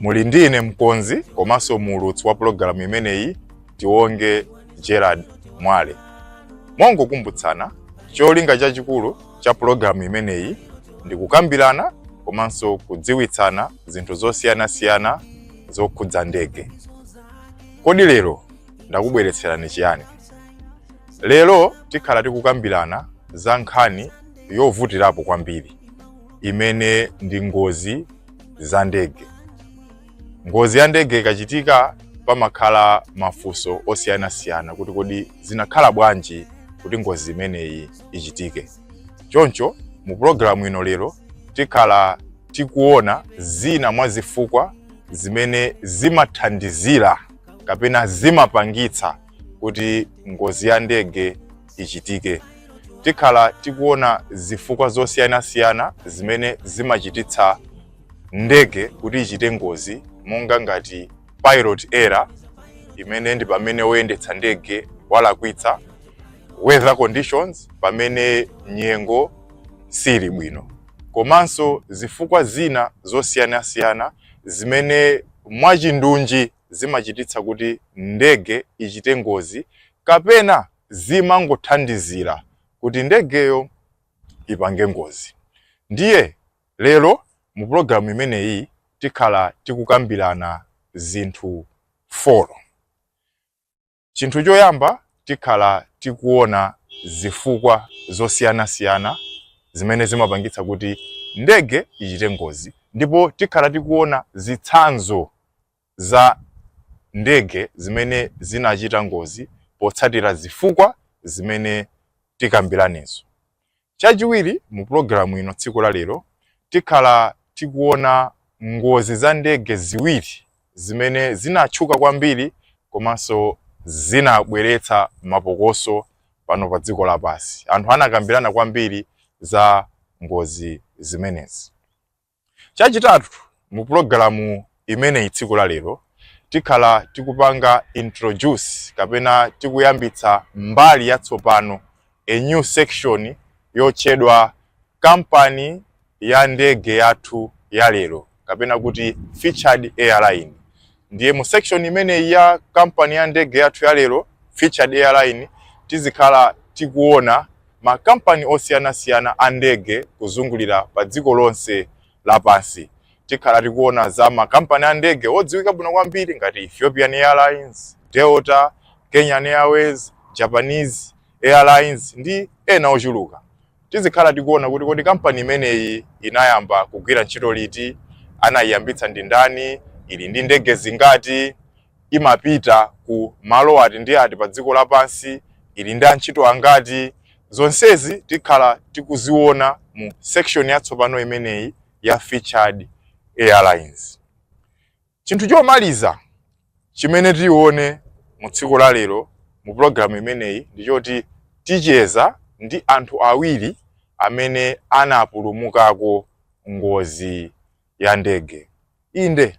muli ndi ine mkonzi komanso muulutsi wa pulogalamu imeneyi tionge gerard mwale mongokumbutsana cholinga chachikulu cha pulogalamu imeneyi ndi kukambirana komanso kudziwitsana zinthu zosiyanasiyana zokhudza ndege kodi lero ndakubweretserani chiyani lero tikhala tikukambirana za nkhani yovutirapo kwambiri imene ndi ngozi za ndege. Ngozi ya ndege ikachitika, pamakhala mafunso osiyanasiyana kuti kodi zinakhala bwanji kuti ngozi imeneyi ichitike. Choncho mu pulogalamu ino lero tikhala tikuona zina mwa zifukwa zimene zimathandizira kapena zimapangitsa kuti ngozi ya ndege ichitike. Tikhala tikuona zifukwa zosiyanasiyana zimene zimachititsa ndege kuti ichite ngozi monga ngati pilot error imene ndi pamene woyendetsa ndege walakwitsa, weather conditions pamene nyengo sili bwino komanso zifukwa zina zosiyanasiyana zimene mwachindunji zimachititsa kuti ndege ichite ngozi kapena zimangothandizira kuti ndegeyo ipange ngozi. Ndiye lero mu pulogalamu imeneyi tikhala tikukambirana zinthu folo. Chinthu choyamba tikhala tikuona zifukwa zosiyanasiyana zimene zimapangitsa kuti ndege ichite ngozi ndipo tikhala tikuona zitsanzo za ndege zimene zinachita ngozi potsatira zifukwa zimene tikambiranezo. Chachiwiri, mu pulogalamu ino tsiku la lero tikhala tikuona ngozi za ndege ziwiri zimene zinatchuka kwambiri komanso zinabweretsa mapokoso pano pa dziko lapansi. Anthu anakambirana kwambiri za ngozi zimenezi. Chachitatu, mu pulogalamu imeneyi tsiku la lero tikhala tikupanga introduce kapena tikuyambitsa mbali yatsopano, a new section yotchedwa kampani ya ndege yathu ya lero kapena kuti featured airline. Ndiye mu section imeneyi ya kampani ya ndege yathu ya lero Featured Airline tizikhala tikuona makampani osiyanasiyana a ndege kuzungulira pa dziko lonse lapansi. Tikhala tikuona za makampani a ndege odziwika bwino kwambiri ngati Ethiopian Airlines, Delta, Kenyan Airways, Japanese Airlines ndi ena ochuluka. Tizikhala tikuona kuti kodi kampani imeneyi inayamba kugwira ntchito liti, anaiyambitsa ndi ndani, ili ndi ndege zingati, imapita ku malo ati ndi ati pa dziko lapansi, ili ndi antchito angati. Zonsezi tikhala tikuziona mu section yatsopano imeneyi ya Featured Airlines. Chinthu chomaliza chimene tione mu tsiku la lero mu programu imeneyi ndi choti ticheza ndi anthu awiri amene anapulumukako ngozi ya ndege. Inde,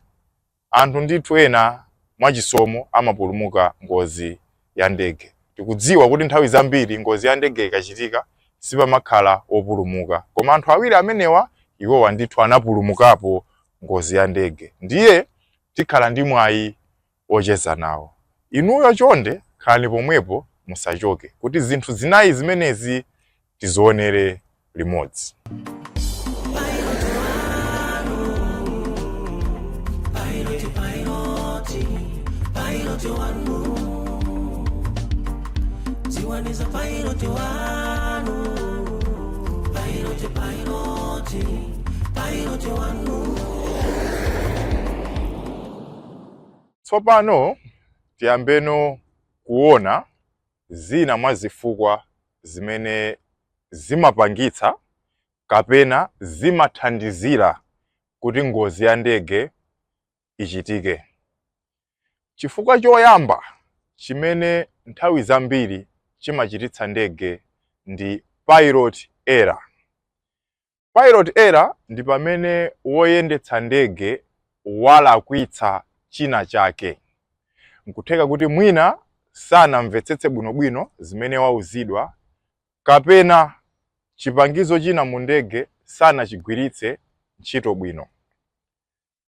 anthu ndithu ena mwachisomo amapulumuka ngozi ya ndege. Tikudziwa kuti nthawi zambiri ngozi ya ndege ikachitika sipamakhala opulumuka, koma anthu awiri amenewa iwowa ndithu anapulumukapo ngozi ya ndege, ndiye tikhala ndi mwayi ocheza nawo. Inuyo chonde khalani pomwepo musachoke kuti zinthu zinayi zimenezi tizionere limodzi tsopano tiyambeno kuona Zina mwa zifukwa zimene zimapangitsa kapena zimathandizira kuti ngozi ya ndege ichitike. Chifukwa choyamba chimene nthawi zambiri chimachititsa ndege ndi pilot error. Pilot error ndi pamene woyendetsa ndege walakwitsa china chake. N'kutheka kuti mwina sanamvetsetse bwinobwino zimene wauzidwa kapena chipangizo china mu ndege sanachigwiritse ntchito bwino.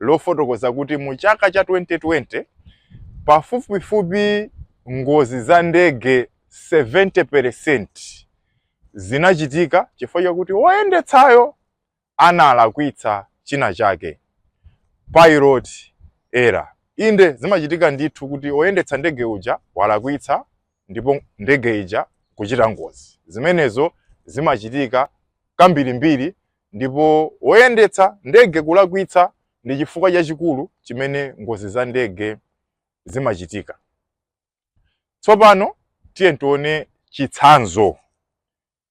lofotokoza kuti mu chaka cha 2020, pafupifupi ngozi za ndege 70 percent zinachitika chifukwa chakuti woyendetsayo analakwitsa china chake, pilot error. Inde zimachitika ndithu kuti oyendetsa ndege uja walakwitsa ndipo ndege ija kuchita ngozi. Zimenezo zimachitika kambirimbiri Ndipo woyendetsa ndege kulakwitsa ndi chifukwa chachikulu chimene ngozi za ndege zimachitika. Tsopano tiyeni tione chitsanzo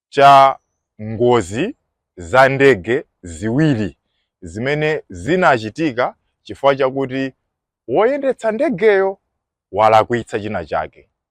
cha ngozi za ndege ziwiri zimene zinachitika chifukwa chakuti woyendetsa ndegeyo walakwitsa china chake.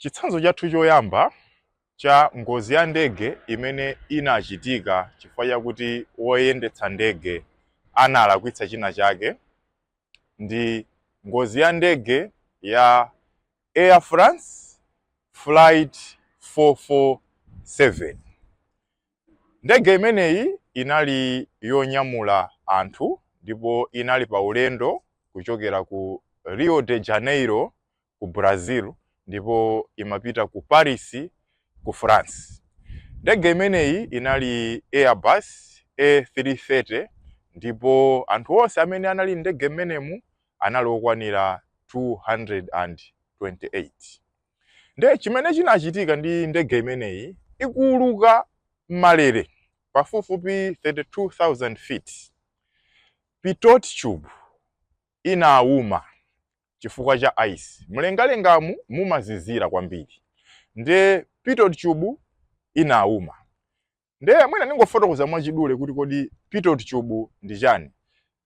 Chitsanzo chathu choyamba cha ngozi ya ndege imene inachitika chifukwa chakuti woyendetsa ndege analakwitsa china chake ndi ngozi ya ndege ya Air France flight 447 Ndege imeneyi inali yonyamula anthu ndipo inali pa ulendo kuchokera ku Rio de Janeiro ku Brazil ndipo imapita ku Paris ku France. Ndege imeneyi inali Airbus A330 ndipo anthu onse amene anali m'ndege mmenemu anali okwanira 228. Nde chimene chinachitika ndi ndege imeneyi ikuuluka m'malere pafupifupi 32,000 feet, pitot tube inauma chifukwa cha ice. Mlengalengamu mumazizira kwambiri, nde pitot tube inauma. Ndiye mwina ndingofotokoza mwachidule kuti kodi pitot tube ndi chani.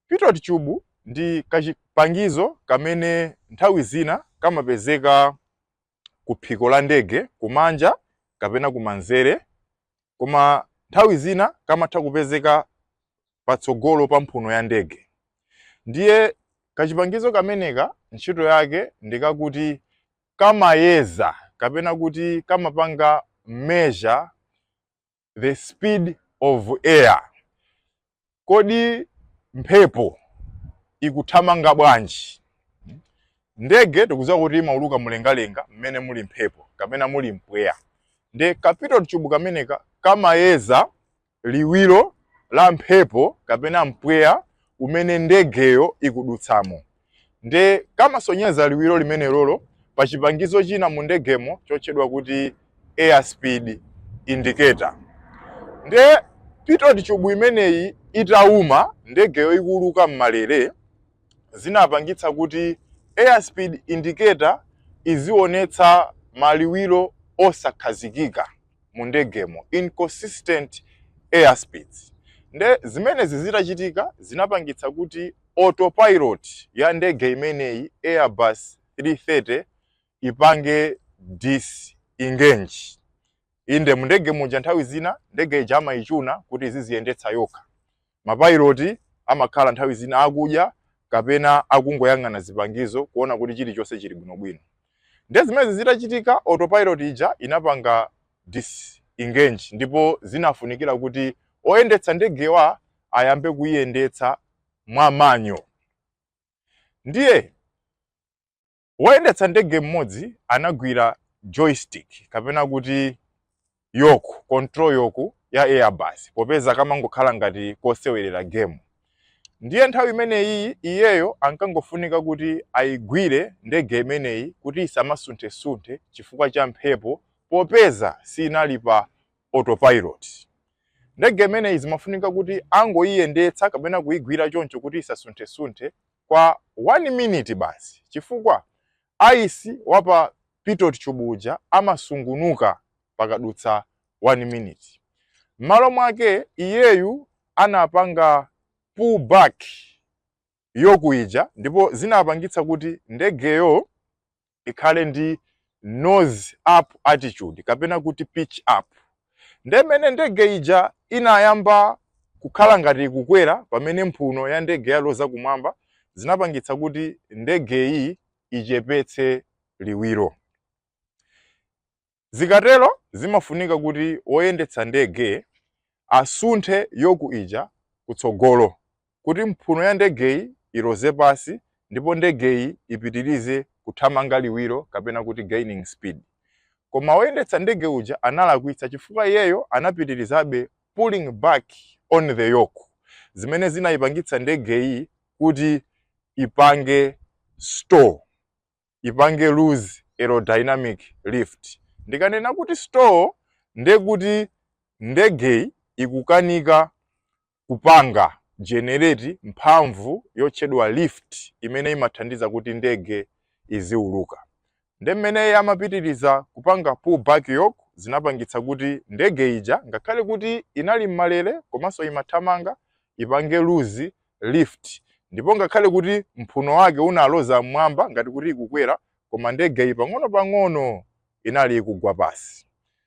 Pitot tube ndi kachipangizo kamene nthawi zina kamapezeka ku phiko la ndege kumanja kapena kumanzere koma nthawi zina kamatha kupezeka patsogolo pa mphuno ya ndege. Ndiye kachipangizo kameneka ntchito yake ndikakuti kamayeza kapena kuti kamapanga measure the speed of air kodi mphepo ikuthamanga bwanji ndege tikudziwa kuti imauluka mlengalenga mmene muli mphepo kapena muli mpweya nde ka pitot tube kameneka kamayeza liwiro la mphepo kapena mpweya umene ndegeyo ikudutsamo nde kamasonyeza liwiro limenelolo pa chipangizo china mu ndegemo chotchedwa kuti air speed indicator nde pitot tube imeneyi itauma ndegeyo ikuuluka m'malere zinapangitsa kuti air speed indicator izionetsa maliwiro osakhazikika mu ndegemo, inconsistent air speeds. Nde zimenezi zitachitika zinapangitsa kuti autopilot ya ndege imeneyi Airbus 330 ipange disengage. Inde mu ndege muja nthawi zina ndege ija amayichuna kuti iziziyendetsa yokha. Mapayiloti amakhala nthawi zina akudya kapena akungoyang'ana zipangizo kuona kuti chilichonse chili bwinobwino. Nde zimenezi zitachitika, autopilot ija inapanga disengage ndipo zinafunikira kuti oyendetsa ndegewa ayambe kuiyendetsa mwa manual. Ndiye Woyendetsa ndege mmodzi anagwira joystick, kapena kuti yoke, control yoke, ya Airbus, popeza kamangokhala ngati kosewerera gemu. Ndiye nthawi imeneyiyi iyeyo ankangofunika kuti aigwire ndege imeneyi kuti isamasunthesunthe chifukwa cha mphepo popeza sinali pa autopilot. Ndege imeneyi zimafunika kuti angoiyendetsa kapena kuigwira choncho kuti isasunthesunthe kwa wani miniti basi, chifukwa ayisi wa pa pitot tube uja amasungunuka pakadutsa wani miniti. M'malo mwake, iyeyu anapanga pull back yoke ija ndipo zinapangitsa kuti ndegeyo ikhale ndi nose up attitude kapena kuti pitch up nde mene ndege ija inayamba kukhala ngati ikukwera pamene mphuno ya ndege yaloza kumwamba zinapangitsa kuti ndegeyi ichepetse liwiro Zikatero zimafunika kuti woyendetsa ndege asunthe yoku ija kutsogolo kuti mphuno ya ndegeyi iloze pansi ndipo ndegeyi ipitirize kuthamanga liwiro kapena kuti gaining speed. Koma woyendetsa ndege uja analakwitsa chifukwa iyeyo anapitirizabe pulling back on the yoke zimene zinayipangitsa ndegeyi kuti ipange stall. ipange lose aerodynamic lift. Ndikanena kuti stall ndiye kuti ndegeyi ikukanika kupanga generate mphamvu yotchedwa lift imene imathandiza kuti ndege iziuluka. Nde mmene amapitiriza kupanga pull back yoke zinapangitsa kuti ndege ija ngakhale kuti inali m'malere komanso imathamanga ipange lose lift ndipo ngakhale kuti mphuno wake unaloza mmwamba ngati kuti ikukwera koma ndege pang'ono-pang'ono inali ikugwa pasi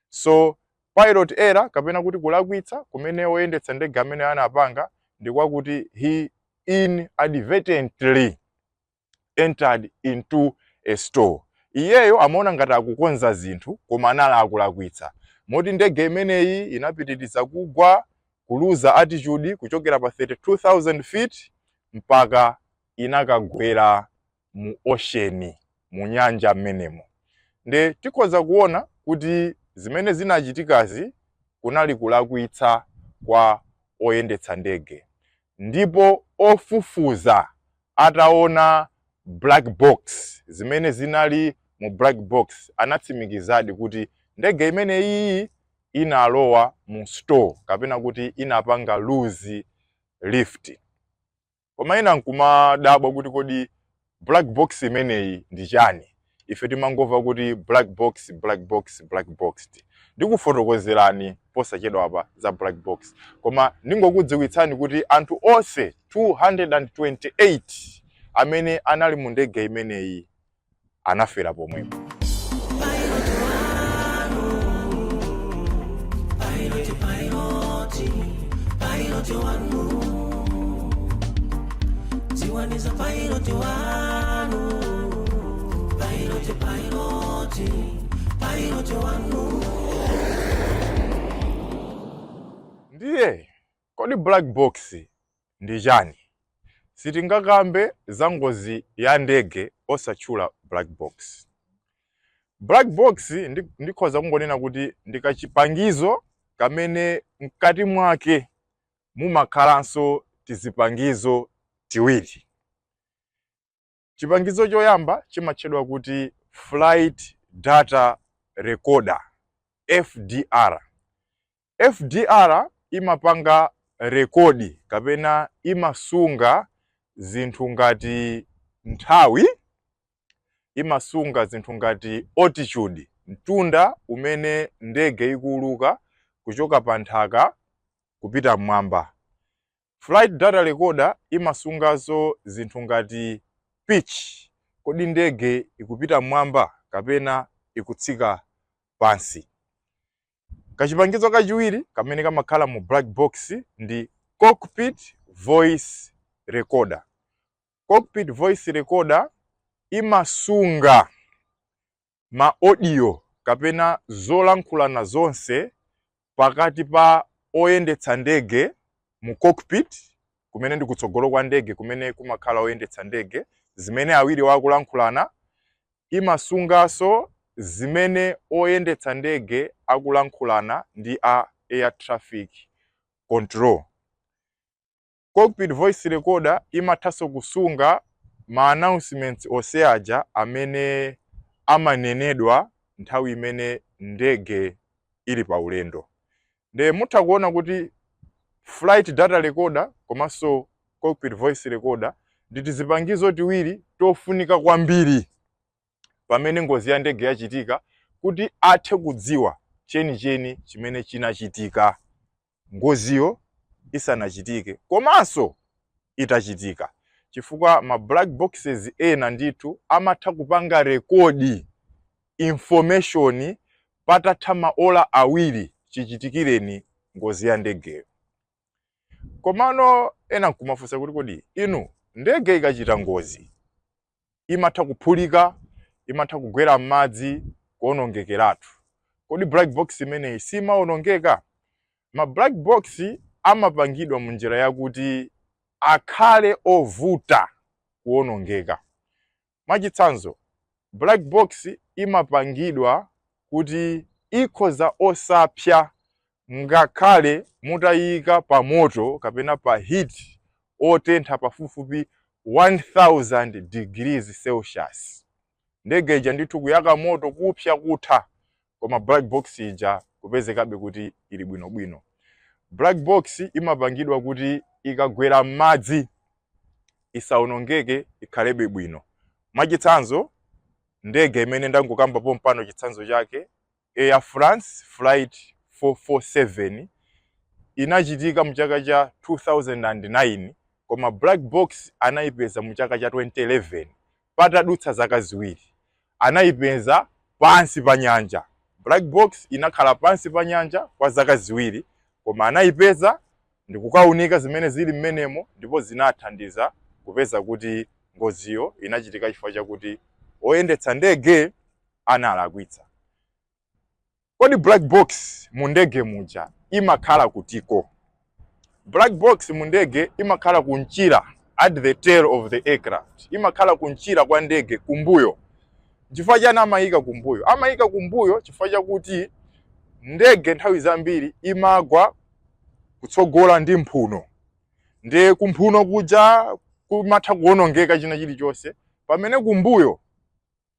so pilot error kapena kuti kulakwitsa kumene oyendetsa ndege amene anapanga ndi kwakuti he inadvertently entered into a stall. Iyeyo amaona ngati akukonza zinthu koma anali akulakwitsa. Moti ndege imeneyi inapitiriza kugwa, kuluza altitude kuchokera pa 32,000 feet mpaka inakagwera mu ocean, mu nyanja mmenemo. Nde tikhoza kuona kuti zimene zinachitikazi kunali kulakwitsa kwa oyendetsa ndege ndipo ofufuza Ataona black box, zimene zinali mu black box, anatsimikizadi kuti ndege imeneyiyi inalowa mu stall kapena kuti inapanga lose lift. Koma ena nkumadabwa kuti kodi black box imeneyi ndi chani? ife timangomva kuti black box black box black box ndikufotokozerani posachedwapa za black box koma ndingokudziwitsani kuti anthu onse 228 amene anali mu ndege imeneyi anafera pomwepo dziwani za pailoti wanu pailoti pailoti pailoti wanu ndiye kodi black box ndi chani sitingakambe za ngozi ya ndege osatchula black box black box ndi- ndikhoza kungonena kuti ndi kachipangizo kamene mkati mwake mumakhalanso tizipangizo tiwiri. Chipangizo choyamba chimatchedwa kuti flight data recorder, FDR. FDR imapanga rekodi kapena imasunga zinthu ngati nthawi, imasunga zinthu ngati altitude, mtunda umene ndege ikuuluka kuchoka pa nthaka kupita m'mwamba. Flight data recorder imasunganso zinthu ngati pitch, kodi ndege ikupita m'mwamba kapena ikutsika pansi? Kachipangizo kachiwiri kamene kamakhala mu black box ndi cockpit voice recorder. Cockpit voice recorder imasunga ma audio kapena zolankhulana zonse pakati pa oyendetsa ndege mu cockpit kumene ndi kutsogolo kwa ndege kumene kumakhala oyendetsa ndege zimene awiriwa akulankhulana imasungaso zimene oyendetsa ndege akulankhulana ndi a air traffic control Cockpit voice recorder imathanso kusunga ma announcements onse aja amene amanenedwa nthawi imene ndege ili pa ulendo. Nde mutha kuona kuti flight data recorder komanso cockpit voice recorder ndi tizipangizo tiwiri tofunika kwambiri pamene ngozi ya ndege yachitika kuti athe kudziwa chenicheni chimene chinachitika. ngoziyo isanachitike komanso itachitika chifukwa ma black boxes ena ndithu amatha kupanga rekodi information patatha maola awiri chichitikireni ngozi ya ndegeyo komano ena nkumafunsa kuti kodi inu ndege ikachita ngozi imatha kuphulika, imatha kugwera m'madzi, kuonongekeratu. Kodi black box imeneyi simaonongeka? Ma black box amapangidwa mu njira yakuti akhale ovuta kuonongeka. Mwachitsanzo, black box imapangidwa kuti ikhoza osapsa Ngakhale mutaiika pamoto kapena pa heat otentha pafupifupi 1000 degrees Celsius, ndege ija ndithu kuyaka moto, kupsa, kutha, koma black box ija kupezekabe kuti ili bwinobwino. Black box imapangidwa kuti ikagwera m'madzi isaonongeke, ikhalebe bwino. Mwachitsanzo, ndege imene ndangokamba pompano chitsanzo chake, Air France Flight 447 inachitika mu chaka cha 2009 koma black box anayipeza mu chaka cha 2011 patadutsa zaka ziwiri. Anayipeza pansi pa nyanja. Black box inakhala pansi pa nyanja kwa zaka ziwiri koma anayipeza ndikukaunika zimene zili mmenemo ndipo zinathandiza kupeza kuti ngoziyo inachitika chifukwa chakuti oyendetsa ndege analakwitsa. Kodi black box mu ndege muja imakhala kutiko? Black box mu ndege imakhala kunchira at the tail of the aircraft. Imakhala kunchira kwa ndege kumbuyo. Chifukwa chani amayika kumbuyo? Amayika kumbuyo chifukwa chakuti ndege nthawi zambiri imagwa kutsogola ndi mphuno. Ndiye kumphuno kuja kumatha kuwonongeka china chilichonse pamene kumbuyo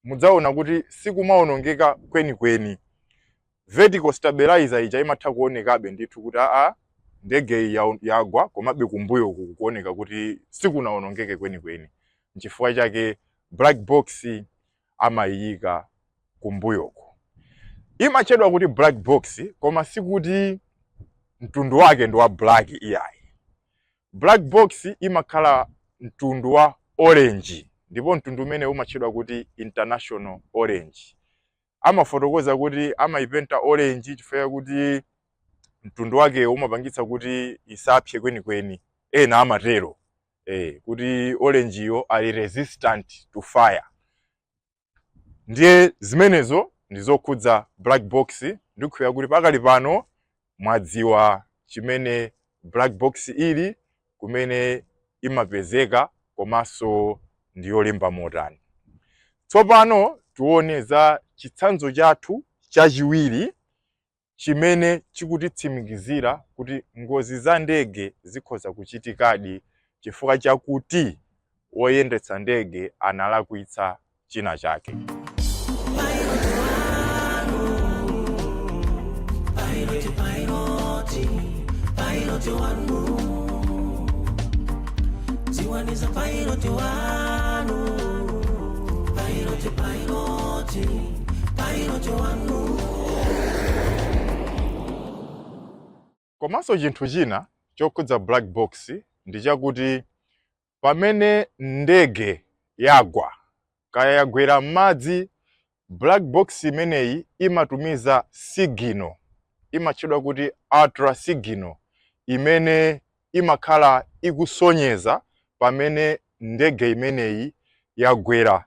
mudzaona kuti sikumaonongeka kwenikweni vertical stabilizer ija imatha kuonekabe ndithu kuti aa ndege iyi yagwa komabe kumbuyo uku kuoneka kuti sikunaonongeke kwenikweni nchifukwa chake black box amayiyika kumbuyoko imatchedwa kuti black box koma sikuti mtundu wake ndi wa black iyayi Black box imakhala mtundu wa orange ndipo mtundu umene umatchedwa kuti international orange. Amafotokoza kuti amayipenta orange chifukwa chakuti mtundu wake umapangitsa kuti isapse kwenikweni, ena amatero eh, kuti orange yo ali resistant to fire. ndiye zimenezo ndi zokhudza black box ndikukhulupirira kuti pakali pano mwadziwa chimene black box ili kumene imapezeka komanso ndi yolimba motani tsopano tione za chitsanzo chathu chachiwiri chimene chikutitsimikizira kuti ngozi za ndege zikhoza kuchitikadi chifukwa chakuti woyendetsa ndege analakwitsa china chake. Komanso chinthu china chokhudza black box ndi chakuti pamene ndege yagwa kaya yagwera m'madzi, black box imeneyi imatumiza signal imatchedwa kuti ultra signal imene imakhala ikusonyeza pamene ndege imeneyi yagwera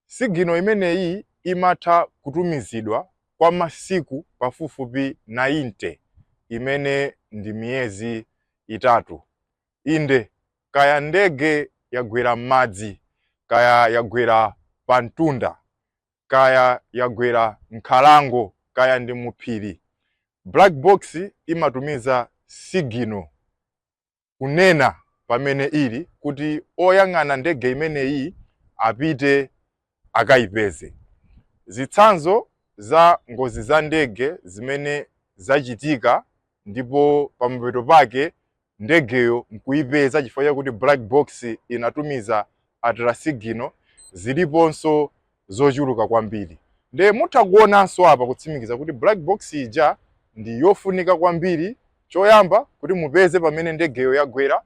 Signal imeneyi imatha kutumizidwa kwa masiku pafupifupi 90, imene ndi miyezi itatu. Inde, kaya ndege yagwera m'madzi, kaya yagwera pamtunda, kaya yagwera m'nkhalango, kaya ndi muphiri, black box imatumiza signal. kunena pamene ili kuti oyang'ana ndege imeneyi apite akayipeze. Zitsanzo za ngozi za ndege zimene zachitika ndipo pamapeto pake ndegeyo nkuyipeza chifukwa chakuti black box inatumiza ultra signal ziliponso zochuluka kwambiri nde mutha kuonanso apa kutsimikiza kuti black box ija ndi yofunika kwambiri choyamba kuti mupeze pamene ndegeyo yagwera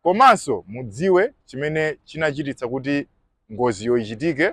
komanso mudziwe chimene chinachititsa kuti ngoziyo ichitike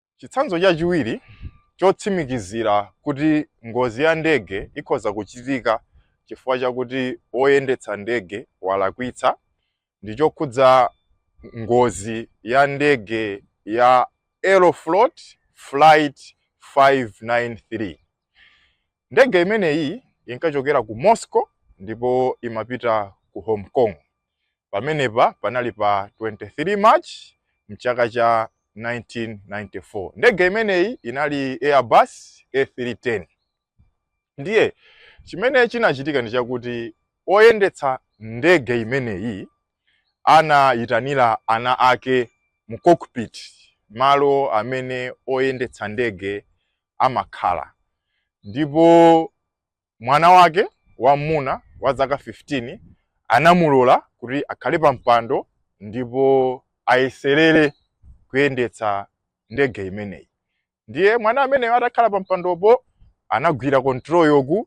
Chitsanzo chachiwiri chotsimikizira kuti ngozi ya ndege ikhoza kuchitika chifukwa chakuti woyendetsa ndege walakwitsa ndi chokhudza ngozi ya ndege ya Aeroflot Flight 593. Ndege imeneyi inkachokera ku Moscow ndipo imapita ku Hong Kong. Pamenepa panali pa 23 March m'chaka cha 1994. Ndege imeneyi inali Airbus A310. Ndiye chimene chinachitika ndi chakuti oyendetsa ndege imeneyi anayitanira ana ake mu cockpit, malo amene oyendetsa ndege amakhala. Ndipo mwana wake wam'muna wa zaka 15 anamulola kuti akhale pa mpando ndipo ayeserere kuyendetsa ndege imeneyi. Ndiye mwana ameneyo atakhala pa mpandopo anagwira control yoke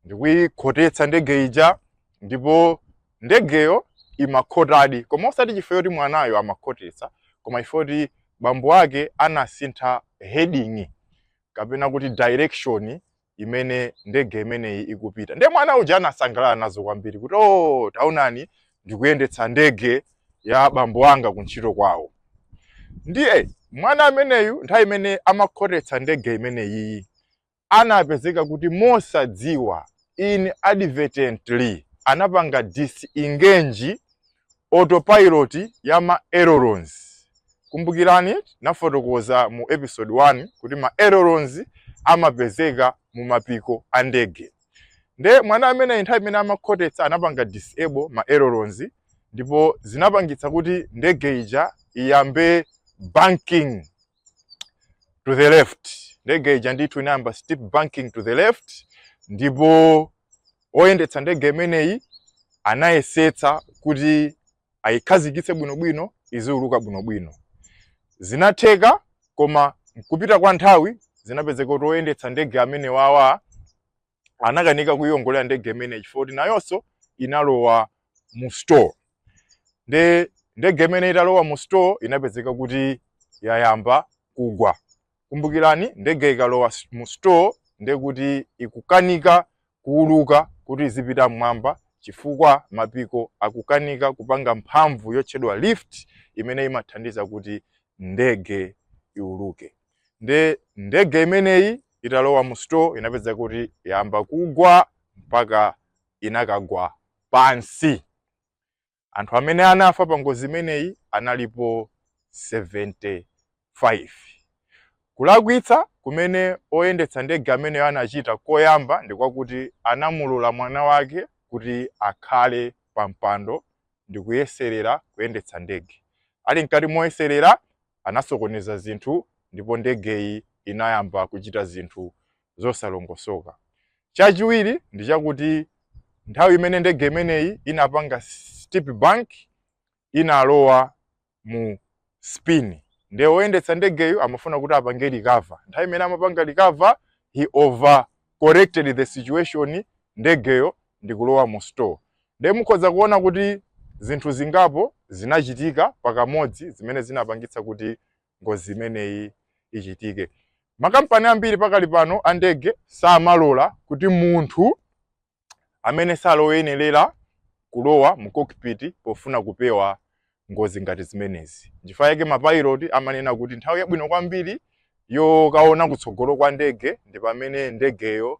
ndikuyikhotetsa ndege ija ndipo ndegeyo imakhotadi koma osati chifukwa choti mwanayo amakhotetsa koma chifukwa choti bambo ake anasintha heading kapena kuti direction imene ndege imeneyi ikupita ndiye mwana uja anasangalala nazo kwambiri kuti o taonani ndikuyendetsa ndege ya bambo anga kuntchito kwawo ndiye mwana ameneyu nthawi imene amakhotetsa ndege imeneyiyi anapezeka kuti mosadziwa inadvertently anapanga disengage autopilot ya ma ailerons kumbukirani nafotokoza mu episode 1 kuti ma ailerons amapezeka mu mapiko a ndege nde mwana amene nthawi imene amakhotetsa anapanga disable ma ailerons ndipo zinapangitsa kuti ndege ija iyambe banking to the left ndege ija ndithu inayamba steep banking to the left ndipo oyendetsa ndege imeneyi anayesetsa kuti ayikhazikitse bwinobwino iziuluka bwinobwino zinatheka koma mkupita kwa nthawi zinapezeka kuti oyendetsa ndege amenewawa anakanika kuiongolera ndege imeneyi chifukwa kuti nayonso inalowa mu stall nde ndege imene italowa mu stall inapezeka kuti yayamba kugwa kumbukirani ndege ikalowa s- mu stall ndekuti ikukanika kuuluka kuti izipita mmwamba chifukwa mapiko akukanika kupanga mphamvu yotchedwa lift imene imathandiza kuti ndege iuluke nde ndege imeneyi italowa mu stall inapezeka kuti yamba kugwa mpaka inakagwa pansi anthu amene anafa pa ngozi imeneyi analipo 75 kulakwitsa kumene oyendetsa ndege ameneyo anachita koyamba ndi kwakuti anamulola mwana wake kuti akhale pa mpando ndi kuyeserera kuyendetsa ndege ali mkati moyeserera anasokoneza zinthu ndipo ndegeyi inayamba kuchita zinthu zosalongosoka. Chachiwiri ndi chakuti nthawi imene ndege imeneyi inapanga steep bank inalowa mu spin nde oyendetsa ndegeyo amafuna kuti apange recover. Nthawi imene amapanga recover he over corrected the situation ndegeyo ndikulowa mu stall nde mukhoza kuona kuti zinthu zingapo zinachitika pakamodzi zimene zinapangitsa kuti ngozi imeneyi ichitike makampani ambiri pakali pano andege samalola kuti munthu amene sali oyenerera kulowa mu cockpit pofuna kupewa ngozi ngati zimenezi nchifukwa yake mapayiroti amanena kuti nthawi yabwino kwambiri yokaona kutsogolo kwa ndege ndi pamene ndegeyo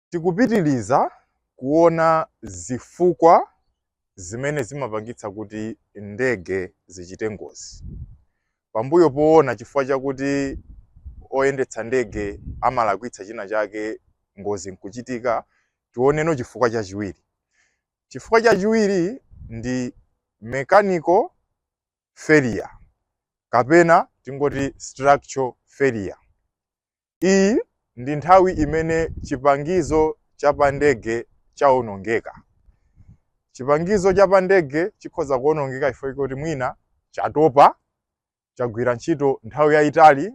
Tikupitiliza kuona zifukwa zimene zimapangitsa kuti ndege zichite ngozi. Pambuyo poona chifukwa chakuti oyendetsa ndege amalakwitsa china chake ngozi nkuchitika, tioneno chifukwa chachiwiri. Chifukwa chachiwiri ndi mechanical failure kapena tingoti structural failure. Iyi ndi nthawi imene chipangizo cha pandege chawonongeka. Chipangizo cha pandege chikhoza kuwonongeka chifukwa choti mwina chatopa, chagwira ntchito nthawi yayitali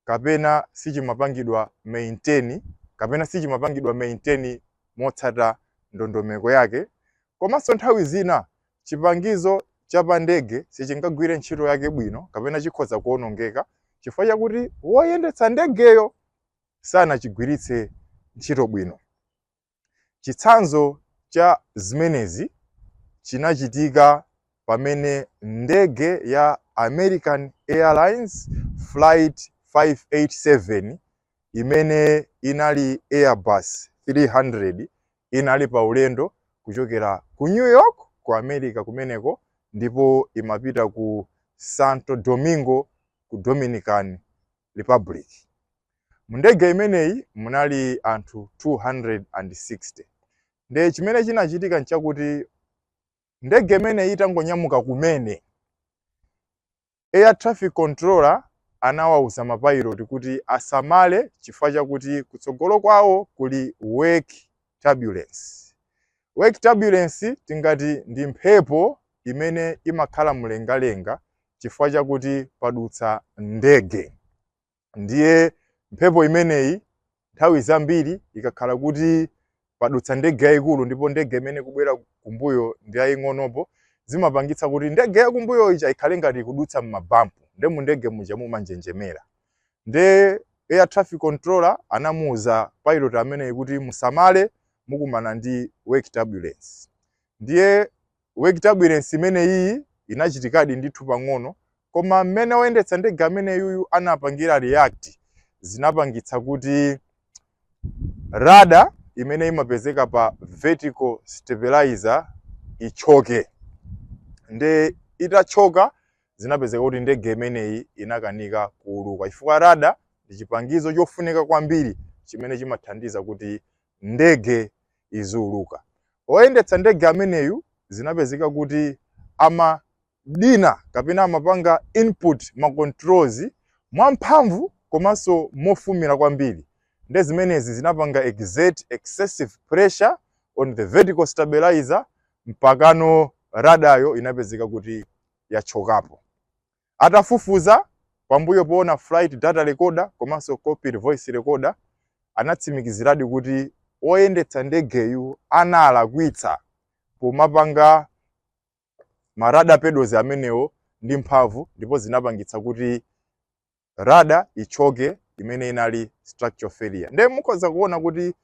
kapena sichimapangidwa maintain kapena sichimapangidwa maintain motsata ndondomeko yake. Komanso nthawi zina Chipangizo cha pandege sichingagwire ntchito yake bwino kapena chikhoza kuwonongeka chifukwa chakuti woyendetsa ndegeyo sanachigwiritse ntchito bwino. Chitsanzo cha zimenezi chinachitika pamene ndege ya American Airlines Flight 587 imene inali Airbus 300 inali pa ulendo kuchokera ku New York ku America kumeneko ndipo imapita ku Santo Domingo ku Dominican Republic. Mu ndege imeneyi munali anthu 260. Nde chimene chinachitika nchakuti ndege imeneyi itangonyamuka kumene Air Traffic Controller anawauza ma pilot kuti asamale chifukwa chakuti kutsogolo kwawo kuli wake turbulence. Wake turbulence tingati ndi mphepo imene imakhala mlengalenga chifukwa chakuti padutsa ndege. ndiye mphepo imeneyi nthawi zambiri ikakhala kuti padutsa ndege yayikulu ndipo ndege imene ikubwera kumbuyo ndi yaying'onopo zimapangitsa kuti ndege yakumbuyo ija ikhale ngati ikudutsa m'mabampu nde mu ndege muja mumanjenjemera nde air traffic controller anamuwuza pilot ameneyi kuti musamale mukumana ndi wake turbulence Ndiye wake turbulence imene iyi inachitikadi ndithu pang'ono koma mmene oyendetsa ndege amene yuyu anapangira react zinapangitsa kuti rudder imene imapezeka pa vertical stabilizer ichoke nde itachoka zinapezeka kuti ndege imeneyi inakanika kuuluka chifukwa rudder ndi chipangizo chofunika kwambiri chimene chimathandiza kuti ndege iziuluka. Oyendetsa ndege ameneyu zinapezeka kuti amadina kapena amapanga input ma controls mwamphamvu komanso mofumira kwambiri nde zimenezi zinapanga exert excessive pressure on the vertical stabilizer mpakano rudder yo inapezeka kuti yachokapo. Atafufuza, pambuyo poona flight data recorder komanso cockpit voice recorder, anatsimikiziradi kuti oyendetsa ndegeyu analakwitsa pomapanga ma rudder pedals amenewo ndi mphamvu ndipo zinapangitsa kuti rudder ichoke imene inali structural failure. Nde mukhoza kuona kuti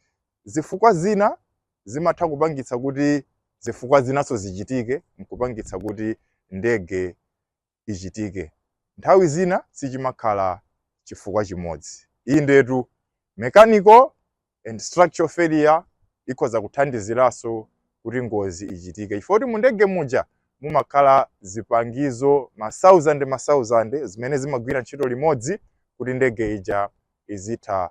Zifukwa zina zimatha kupangitsa kuti zifukwa zinanso zichitike n'kupangitsa kuti ndege ichitike. Nthawi zina sichimakhala chifukwa chimodzi. Indetu, mechanical and structural failure ikhoza kuthandiziranso kuti ngozi ichitike chifukwa kuti mu ndege muja mumakhala zipangizo masauzande masauzande zimene zimagwira ntchito limodzi kuti ndege ija izitha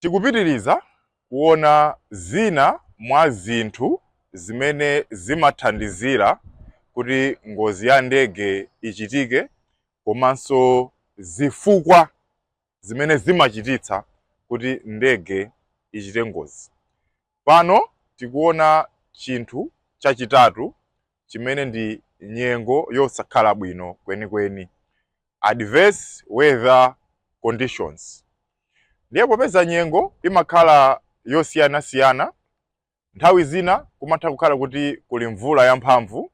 Tikupitiriza kuona zina mwa zinthu zimene zimathandizira kuti ngozi ya ndege ichitike komanso zifukwa zimene zimachititsa kuti ndege ichite ngozi. Pano tikuona chinthu chachitatu chimene ndi nyengo yosakhala bwino kwenikweni, adverse weather conditions. Ndiye popeza nyengo imakhala yosiyanasiyana, nthawi zina kumatha kukhala kuti kuli mvula yamphamvu,